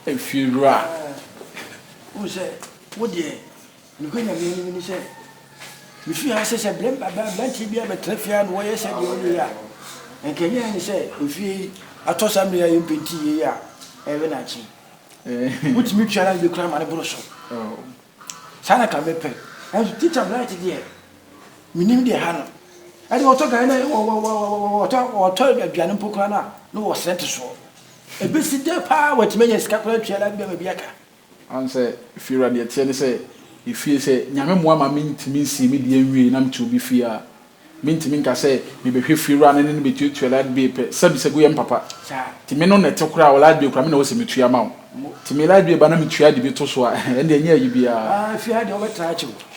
Efiewura. Wohu sɛ wo deɛ nokorɛ nyame anim ne sɛ mefiri ha sɛ sɛ aberanteɛ biara bɛtena fie a na wɔyɛ sɛ deɛ ɔyɛ yi a nka nyɛ ne sɛ ofie yi atɔ saa mmere a yɛmpenti yie a ɛbɛ na akye wotumi twa na bɛkura ma no boro so saa na ka mepɛ nanso tikya bright deɛ menim deɛ ha no ɛde wɔtɔ gane na wɔtɔ aduane mpo koraa no a na wɔsrɛ nte soɔ ɛbɛsi dɛ paa wɔatumi anya sika koraa atua life bɛma bi aka ɔn sɛ fiewura deɛ teɛ ne sɛ efie sɛ nyame mmoa ma mentumi nsie me deɛ nwie na mete obi fie a mentumi nka sɛ mebɛhwɛ fiewura no ne no bɛtuatua light bill pɛ sɛ me sagu yɛ mpapa nti me no na ɛte koraa wɔ light bill koraa me na ɛwɔ sɛ metua ma wo nti me light bill ba na metua de bi to so a ɛnde ɛnyɛ ayi biara. Fie ha deɛ wobɛtra akyɛ o.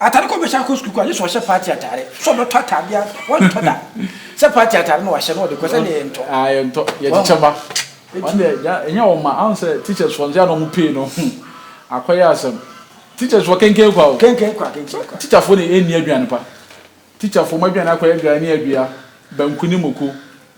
Atade koro bɛhyɛ akɔ sukuu kɔ a gye sɛ ɔhyɛ party atare. So ɔbɛtɔ atade a wɔntɔ da sɛ party atare na wahyɛ na ɔde kɔ sɛdeɛ yɛntɔ. Ah yɛntɔ. Yɛkyekyɛ mma. Wɔn deɛ gya ɛnyɛ wɔn mma. Ahu sɛ teachers foɔ nso yɛ a na wɔn pay no ho akɔyɛ asɛm. Teachers foɔ kenken kwa o. Kenken kwa kenken kwa. Teacher foɔ na ɛnni aduane pa. Teacher foɔ mo aduane akɔyɛ gari ne adua, banku ne moko.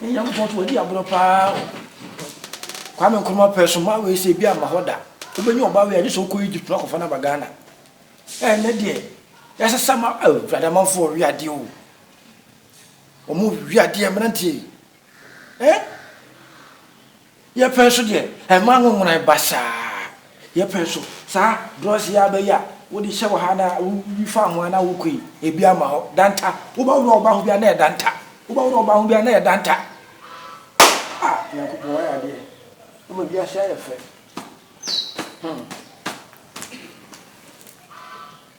Ne Nyankopɔn so wadi agorɔ paa o. Kwame Nkrumah pɛ so maa wei sɛ ebi amma hɔ da. Wobɛnya ɔbaa wei a gye sɛ wokɔ Egypt na akɔfa no aba Ghana. Ɛnnɛ deɛ yɛasesa ma oh Awurade amanfoɔ ɔwe adeɛ o. Wɔn ɔwe adeɛ mmeranteɛ yi. Eh? Yɛpɛ nso deɛ, ɛma ahohoran ba saa. Yɛpɛ nso, saa drugs yi ara bɛyɛ a, wode hyɛ wɔ ha na woyi fa ho ara na wokɔ yi, ebi ama hɔ. Danta, wobɛworɔ wo ba ho biara na ɛyɛ danta. Wobɛworɔ wo ba ho biara na ɛyɛ danta. Ah, Nyankopɔn wayɛ adeɛ. Wama wiase ayɛ fɛ. Hmm.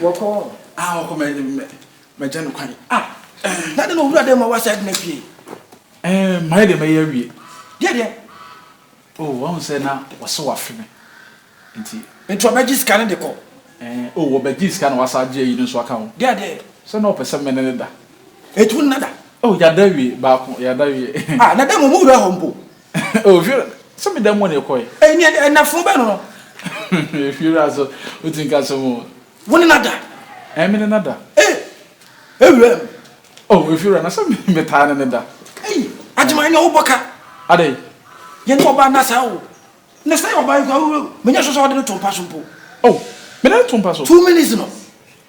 wɔkɔ a wɔkɔ mɛ mɛgya no kwan a na de na owura dɛ ma wasa adwuma fie ɛɛ mmaa deɛ mɛyɛ awie deɛ deɛ o wɔn sɛ na wɔsɛ wafe me nti nti ɔbɛgye sika no de kɔ ɛɛ o wɔbɛgye sika na wasa agye ayi no nso aka ho deɛ deɛ sɛ na ɔpɛ sɛ mene ne da etu nna da o yada awie baako yada awie a na dɛ mo mo wura hɔ mpo Oh, Fiora, sɛ me da mu na ɛkɔe. Ɛyi ni ɛdɛ, ɛna funu bɛn no no. Fiora so, o ti nka so mo. Wo ne nada. Ɛn me ne nada. Eh, ewura mu. Oh, Fiora, na sɛ me taa ne ne da. Eyi, Agyima ɛnyɛ wo bɔ ka. Adɛn? Yɛ ne ɔbaa na saa o. Na sɛ yɛ ɔbaa yi kura, me nyɛ sure sɛ wɔde no to mpa so mpo. Oh, me de no to mpa so. Two minutes no,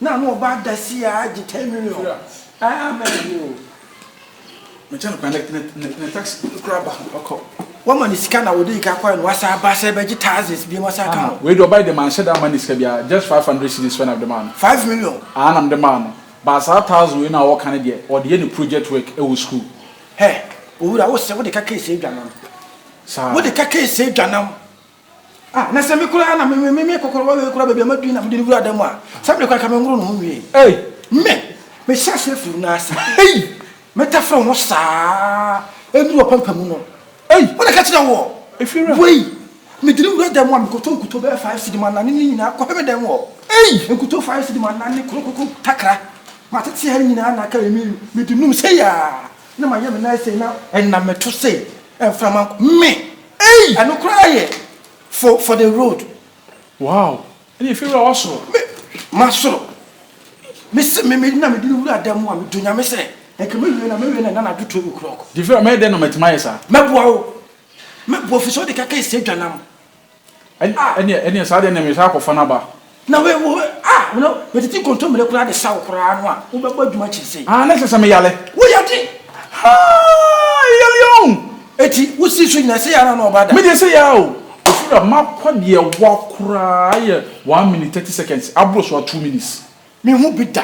Na ano ɔba adasi a agye ten million aa mɛ yi oo. Me kyɛ no kwa ne ne ne ne tax kura ba ɔkɔ. Wa ma ne sika na ɔde ika kɔɛ no wasa aba sɛ bɛgye thousands biem asa aka ho. Wei de ɔbae de manhyɛ da ma ne sika biara just five hundred cedis pɛ na mede maa no. Five million. Aa na mede maa no but saa thousand wei no a ɔɔka no deɛ ɔde yɛ ne project work ɛwɔ school. Hɛ owura wo se wode ka case adwa nam. Saa. Wode ka case adwa nam. Ah na sɛ me koraa na me me me kɔkɔrɔba wei koraa baabi a madwin na mede no wura dan mu a saa bere koraa ka me nworo no ho nwie ei me mehyɛ aseɛ firi no ase ei metafere ho saa ɛnuru ɔpampa mu no ei wode ka kyerɛ woɔ ɛfiri wei mede no wura dan mu a mekɔtɔ nkuto bɛyɛ five cedi ma nane ne nyinaa kɔhwɛ me dan mu hɔ ei nkuto five cedi ma nane krokoko takra matete ha nyinaa na aka me mede num sɛ yaa na mayɛ me nan sɛ na ɛnam meto sɛ ɛmframa me Ei! Ɛno koraa yɛ for for the road. Wow! Ɛnneɛ fie wura wasoro. Me masoro. Me se me me na me di ne wura dan mu a me dɔ nyame sɛ nka me wie na me wie na ɛna na do twelve o'clock. Deɛ fie wura mɛyɛ dɛn na matumi ayɛ saa? Mɛboa wo. Mɛboa firi sɛ wode kaka ɛsɛ adwa nam. Ɛn ah ɛneɛ ɛneɛ saa deɛ ɛneɛ mesan akɔfa no aba. Na wei wo ah wo na metete kontomire koraa de sa wo koraa no a wo bɛbɔ adwuma kyere sei. Ah na kyere sɛ me yale. Wo yade haa eyale oh. Eti wo si so nyina sei ara na ɔba da. Me deɛ sei ara oh. Ɔfira makɔ deɛ wa koraa yɛ one minute thirty seconds aboro so a two minutes. Me ho bi da.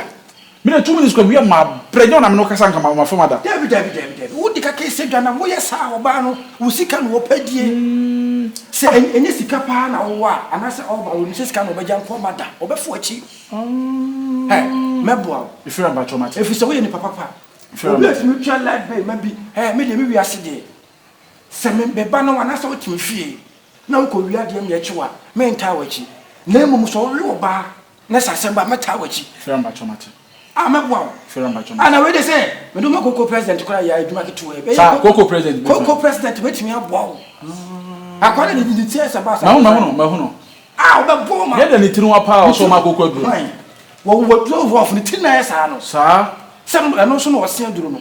Me de two minutes kwa wia ma brɛ nyɛ wo na me ne wo kasa nka ma fam ada. Dabi dabi dabi dabi wo de kaka ɛsɛ dwa na mo yɛ saa ɔbaa no wo sika na ɔpɛ die sɛ ɛnyɛ sika paa na ɔwɔ a anaasɛ ɔba a ɔnim sɛ sika na ɔbɛgya nko ɔma da ɔbɛfo akyi hɛ mɛboa wo Efira mpakyɛw mate. ɛfiri sɛ woyɛ nipa papa Efira obi a mpakyɛw. ɛtumi tua light bill ma bi hɛ me deɛ me wiase deɛ sɛ me me ba na wo anaasɛ wote me fie na wokɔ wia deɛ meɛkye wo a mentaa w'akyi na mmom sɛ ɔwe ɔbaa Na sɛ asɛm ba a, mɛtaa w'akyi. Fira mpakyɛw mate. A mɛboa wo. Fira mpakyɛw mate. A na wei de sɛ mede wo ma koko president koraa yɛ adwuma ketewa yi. Saa koko president bɛtumi. Koko president bɛtumi aboa wo. Akoa de ne ti asɛm ba asɛm. Mahu mahu no mahu no. A ɔbɛbɔ wo ma. Yɛda ne tiri nwa paa ɔsɔ ma koko aduro. Hwan? Wɔ wɔ duro rough ne tiri na yɛ saa no. Saa. Sɛ ɛno nso na ɔse aduro no.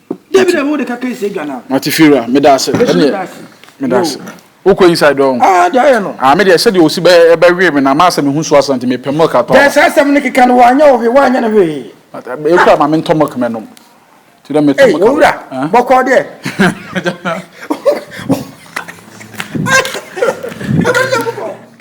David a wode kaka ese dwa na. Mate Fira, meda ase. Ɛne meda ase. Wokɔ inside dɔn. Ah, de ayɛ no. Ah, me de sɛ de osi bɛ bɛ we me na ma asɛ me hu so asanti me pɛ milk atɔ. Dɛ sɛ asɛm ne keka no wanyɛ wo hwe, wanyɛ no hwe. E kura ma me ntɔ milk me nom. Ti dɛ me tɔ milk. Ei, owura, bɔkɔ de. Ɛbɛn dɛ bɔkɔ.